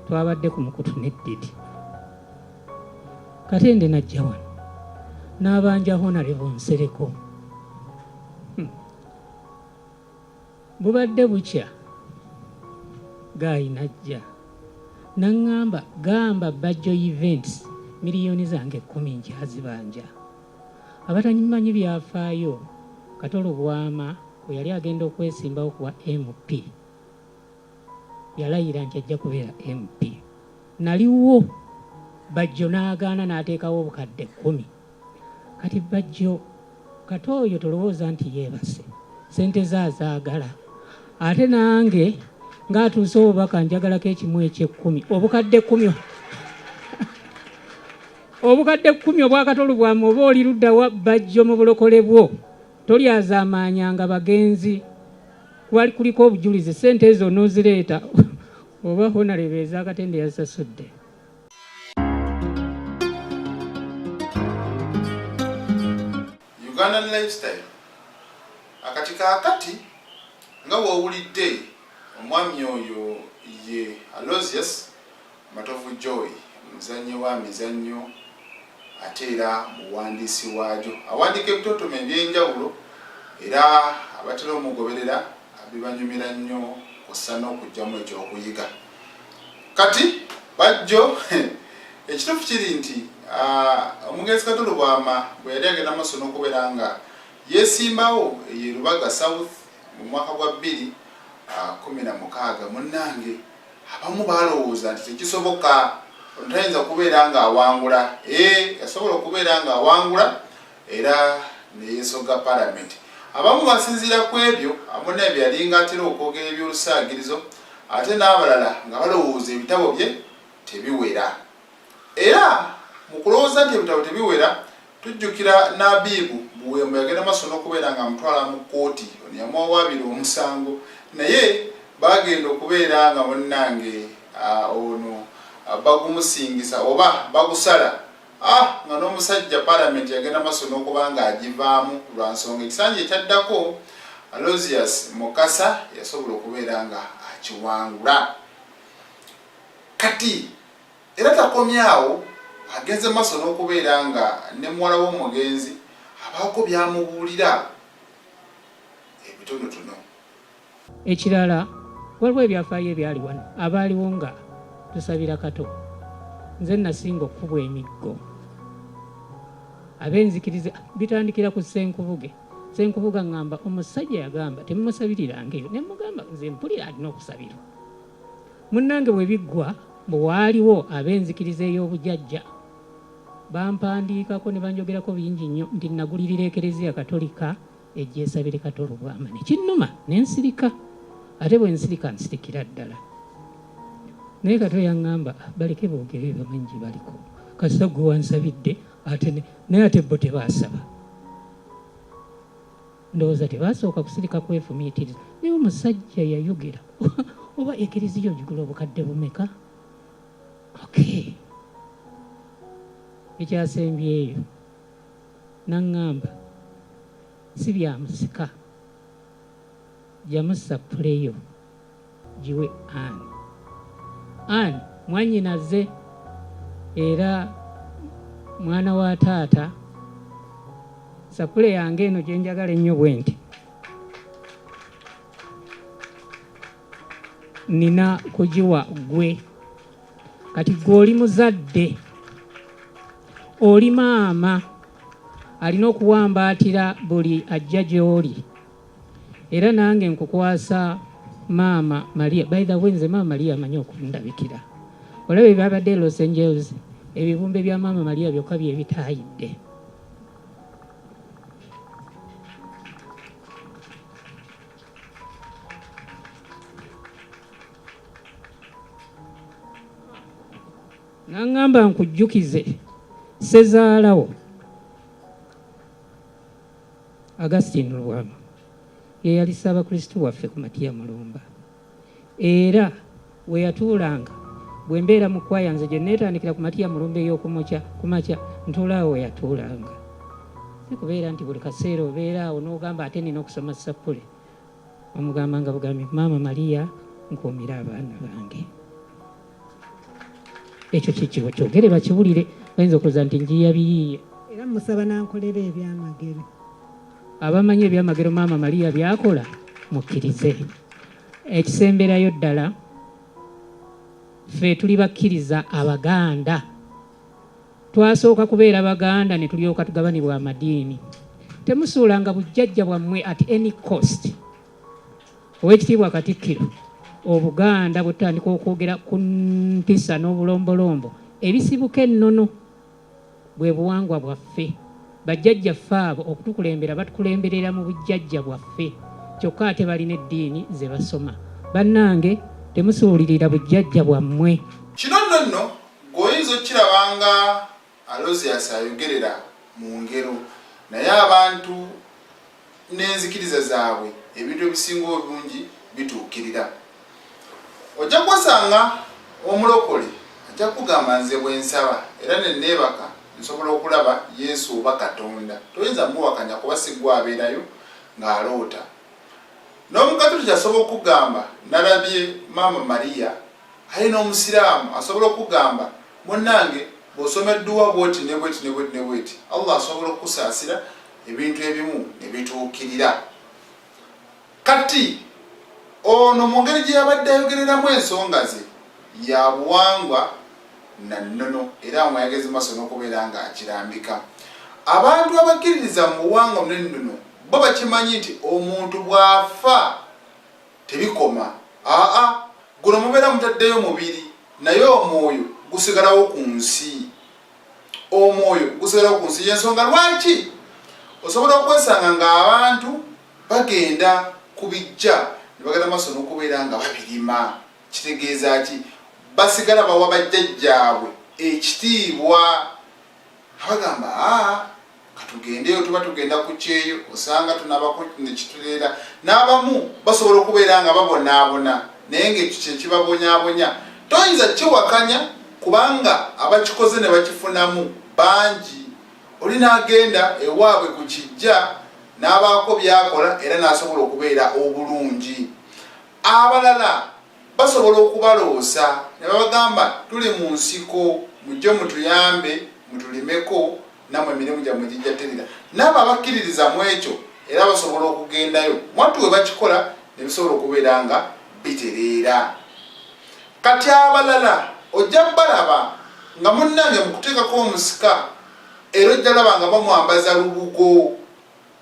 twabadde ku mukutu ne didi katende najja wano n'abanja honarebo nsereko hmm. bubadde bukya gaayi najja naŋŋamba gamba bajjo events miliyoni zange ekkumi nkyazibanja abatanyimanyi byafaayo katolo bwama bwe yali agenda okwesimbawo kuwa mp yalayira nti ajja kubeera MP. Naliwo Bajjo n'agaana n'ateekawo obukadde kkumi. Kati Bajjo kata oyo tolowooza nti yeebase sente ze azaagala ate nange ng'atuuse obubaka njagalako ekimu ekyekkumi obukadde kkumi obukadde kkumi obwakatolu bwamu oba oli luddawa bajjo mu bulokole bwo tolyazaamaanyanga bagenzi Kwali kuliko obujulizi ssente ezo onoozireeta oba honarebo ez'akatende yazisasudde. Ugandan lifestyle akati kaakati nga wowulidde omwami oyo ye alosius Matovu Joy muzannyi wa mizannyo ate era muwandiisi waagyo. Awandiika ebitontome eby'enjawulo era abatera omugoberera bibanyumira nnyo kussa n'okugyamu ekyokuyiga. Kati bajjo ekituufu kiri nti omugenzi Kato Lubwama bwe yali agenda maaso n'okubeera nga yeesimbawo eye Lubaga South mu mwaka gwa bbiri kumi na mukaaga munnange abamu balowooza nti tekisoboka ono tayinza kubeera nga awangula ee yasobola okubeera nga awangula era neyesoga palamenti abamu basinziira ku ebyo amuna ebyalinga atera okwogera ebyolusaagirizo ate n'abalala nga balowooza ebitabo bye tebiwera era mu kulowooza nti ebitabo tebiwera Tujjukira Nabiibu Buwembo yagenda maaso n'okubeera nga amutwala mu kkooti, ono yamuwawaabira omusango naye baagenda okubeera nga munnange ono bagumusingisa oba bagusala ah nga n'omusajja palamenti yagenda maaso n'okuba ng'agivaamu lwa nsonga ekisanja ekyaddako Alozius Mukasa yasobola okubeera nga akiwangula kati Era takomye awo, agenze maso n'okubeera nga ne muwala w'omugenzi abaako by'amubuulira ebitonotono. Ekirala, waliwo ebyafaayo ebyali wano abaaliwo nga tusabira Kato. Nze nnasinga okukubwa emiggo. Ab'enzikiriza bitandikira ku Ssenkubuge. Ssenkubuge aŋŋamba, omusajja yagamba temumusabiriranga eyo. Ne mmugamba, nze mpulira alina okusabirwa. Munnange bwe biggwa mbu waaliwo ab'enzikiriza ey'obujajja bampandiikako ne banjogerako bingi nnyo nti nnagulirira Ekereziya Katolika ejja esabire Kato Lubwama ne kinnuma ne nsirika ate bwe nsirika nsirikira ddala naye Kato yaŋŋamba baleke boogere bamanyi gye baliko kasita gwe wansabidde ate naye ate bo tebaasaba Ndowooza tebasooka kusirika kwefumiitiriza. Naye omusajja yayogera oba ekiriziya ogigula obukadde bumeka? Okay. Ekyasembyeyo nangamba si byamusika jamusa puleyo. giwe an an mwanyinaze era mwana wa taata sapule yange eno gye njagala ennyo bwe nti nina kugiwa gwe kati gwe oli muzadde oli maama alina okuwambaatira buli ajja gy'oli era nange nkukwasa maama maria by the way nze maama maria amanyi okundabikira olaba ebyabadde e los angeles ebibumbe bya maama maria byokka byebitayidde naŋŋamba nkujjukize sezaalawo Augustine Lubwama ye yali Ssaabakristu waffe ku Matiya Mulumba era we yatuulanga bwe mbeera mu kwaya nze gye neetandikira ku matiya mulumba ey'okumukya ku makya ntuulaawo we yatuulanga si kubeera nti buli kaseera obeera awo n'ogamba ate nina okusoma sappule omugambanga bugambi maama mariya nkuumira abaana bange ekyo kyekibo kyogere bakiwulire bayinza okuza nti njiya biyiye era musaba nankolera ebyamagero abamanyi ebyamagero maama maria byakola mukkirize ekisemberayo ddala ffe tuli bakkiriza abaganda twasooka kubeera baganda ne tulyoka tugabanibwa amadiini temusuulanga bujjajja bwammwe at any cost Owekitiibwa Katikkiro, Obuganda bwetutandika okwogera ku mpisa n'obulombolombo ebisibuka ennono bwe buwangwa bwaffe. Bajjajjaffe abo okutukulembera batukulemberera mu bujjajja bwaffe kyokka ate balina eddiini ze basoma. Bannange temusuulirira bujjajja bwammwe. Kino nno nno ggwe oyinza okukiraba nga. Alozius ayogerera mu ngero naye abantu n'enzikiriza zaabwe ebintu ebisinga obungi bituukirira. Ojja kwesanga omulokole ajja kugamba nze bwe nsaba era ne neebaka nsobola okulaba Yesu oba Katonda. Toyinza muwakanya kuba si gwe abeerayo ng'aloota. N'Omukatuliki asobola okukugamba nalabye Maama Maria Aye n'omusiraamu asobola okukugamba munnange bw'osoma edduwa bw'oti ne bw'eti ne bw'eti ne bw'eti Allah asobola okukusaasira ebintu ebimu ne bituukirira. Kati ono mu ngeri gye yabadde ayogereramu ensonga ze ya buwangwa na nnono era nga yageze mu maaso n'okubeera ng'akirambika. Abantu abakkiririza mu buwangwa n'ennono bo bakimanyi nti omuntu bw'afa, Tebikoma aa guno mubeera mutaddeyo mubiri naye omwoyo gusigalawo ku nsi. Omwoyo gusigalawo ku nsi y'ensonga lwaki osobola okwesanga ng'abantu bagenda ku bijja ne bagenda maaso n'okubeera nga babirima. Kitegeeza ki? Basigala bawa bajjajjaabwe ekitiibwa Abagamba aa katugendeyo tuba tugenda ku kyeyo osanga tunabako nekituleera n'abamu basobola okubeera nga babonaabona naye ngaekyo kyekibabonyabonya toyinza kiwakanya kubanga abakikoze ne bakifunamu bangi oli n'agenda ewaabwe ku kijja n'abaako byakola era n'asobola okubeera obulungi abalala Basobola okubaloosa ne babagamba tuli mu nsiko mujje mutuyambe mutulimeko nammwe emirimu gyammwe gijja terera. N'abo abakkiririza mu ekyo era basobola okugendayo mwattu we bakikola ne bisobola okubeera nga bitereera. Kati abalala ojja balaba nga munnange mu kuteekako omusika era ojja laba nga bamwambaza lubugo.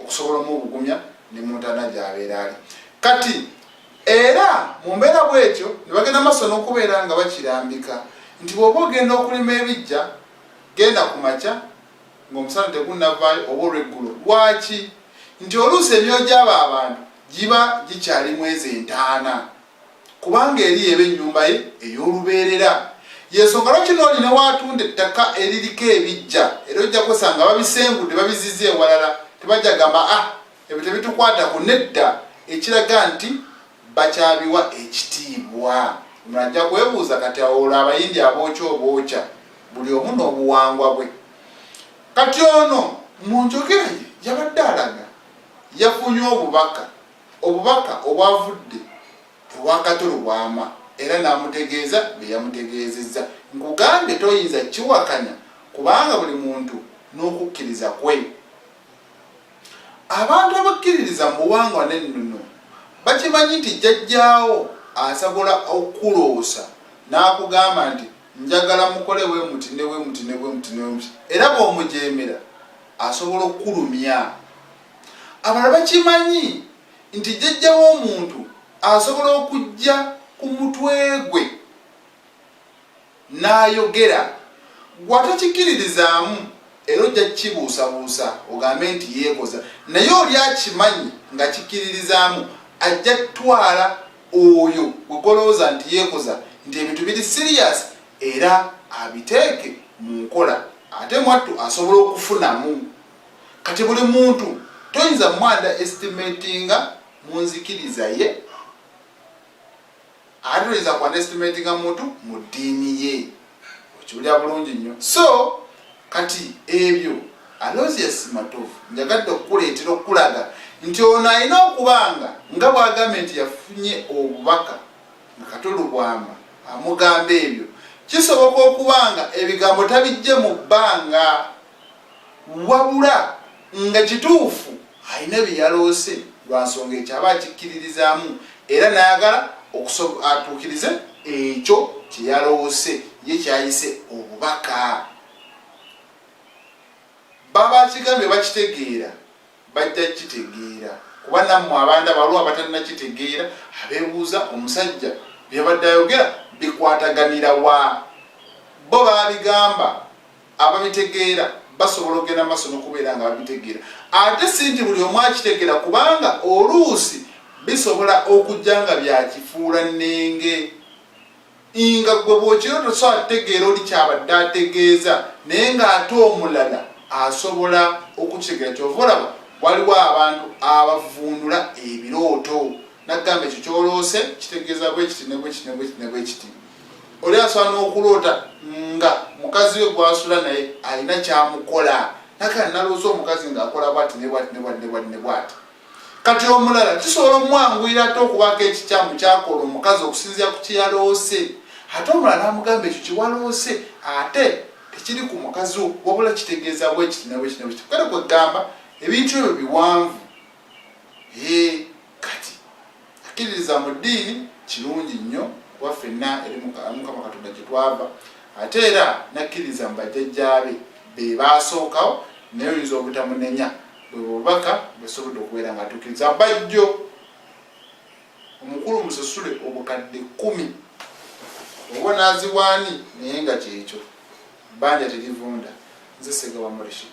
okusobola omubugumya ne mu ntaana gy'abeera ali kati era mu mbeera bw'etyo ne bagenda maaso n'okubeera nga bakirambika nti bw'oba ogenda okulima ebijja genda ku makya ng'omusana tegunnavaayo oba olw'eggulo lwaki nti oluusi emyoyo gy'abo abantu giba gikyali mwezi entaana kubanga eri y'eba ennyumba ye ey'olubeerera. Y'ensonga lwaki n'oli ne w'atunda ettaka eririko ebiggya, era ojja kwesanga babisengudde babizizza ewalala. Tebajja gamba, Ah, ebyo tebitukwatako. Nedda, ekiraga nti bakyabiwa ekitiibwa. Omulala ajja kwebuuza, Kati awo olwo Abayindi abookya obookya? Buli omu n'obuwangwa bwe. Kati ono, mu njogera ye, yabadde alaga yafunye obubaka Obubaka obwavudde ewa Kato Lubwama era n'amutegeeza bye yamutegeezezza. Nkugambye toyinza kukiwakanya kubanga buli muntu n'okukkiriza kwe. Abantu abakkiririza mu buwangwa n'ennono bakimanyi nti jjajjaawo asabola okukuloosa n'akugamba nti njagala mukole bwe muti ne bwe muti ne bwe muti ne bwe muti era bw'omujeemera asobola okukulumya. Abalala bakimanyi nti jjajja w'omuntu asobola okujja ku mutwe gwe n'ayogera, ggwe atakikiririzaamu era ojja kukibuusabuusa ogambe nti yeekoza naye oli akimanyi nga kikiririzaamu ajja kutwala oyo gwe gw'olowooza nti yeekoza nti ebintu biri siriyaasi era abiteeke mu nkola ate mwattu asobola okufunamu. kati buli muntu toyinza mwanda estimatinga munzikiriza ye ate toyinza kwanda estimatinga muntu mu ddiini ye okiwulira bulungi nnyo so kati ebyo alosius matovu njagadde okukuleetera okukulaga nti ono alina okubanga nga bwagambye nti yafunye obubaka nakatolubwama amugamba ebyo kisoboka okubanga ebigambo tabijje mu bbanga wabula nga kituufu alina bye yaloose lwa nsonga ekyo aba akikkiririzaamu era n'ayagala atuukirize ekyo kye yaloose ye kyayise obubaka baba akigambye bakitegeera bajja kukitegeera kuba nammwe abanda baliwo abatalina kitegeera abeebuuza omusajja byabadde ayogera bikwataganira wa bo baabigamba ababitegeera basobola okugenda maaso nokubeera nga babitegeera ate si nti buli omu akitegeera kubanga oluusi bisobola okujja nga byakifuula nnenge nga gwe bwokiro tosobola kutegeera oli kyabadde ategeeza naye ng'ate omulala asobola okukitegeera kyova olaba waliwo abantu abavuunula ebirooto nagamba ekyo kyoloose kitegeeza bwekiti nebwekiti nebwekiti nebwekiti oli asaana okuloota nga mukazi we gwasula naye alina kyamukola nakala nalooza omukazi ngaakola bwati nebwati nebwati nebwati nebwati kati omulala kisobola omwanguyira ate okubaako ekikyamu kyakola omukazi okusinzira ku kyeyaloose ate omulala namugamba ekyo kyewaloose ate tekiri ku mukazi wo wabula kitegeeza bwekiti nabwekiti nabwekiti kale kwegamba ebintu ebyo biwanvu hee kati akkiririza mu ddiini kirungi nnyo kuba ffenna eri mukama katonda gye twava ate era nakkiririza mu bajjajjaabe be baasookawo naye oyinza obutamunenya bwe bubaka bwesobodde okubeera nga atuukiriza bajjo omukulu musasule obukadde kumi oba onaziwa ani naye nga kyekyo banja terivunda nze sega wa murishid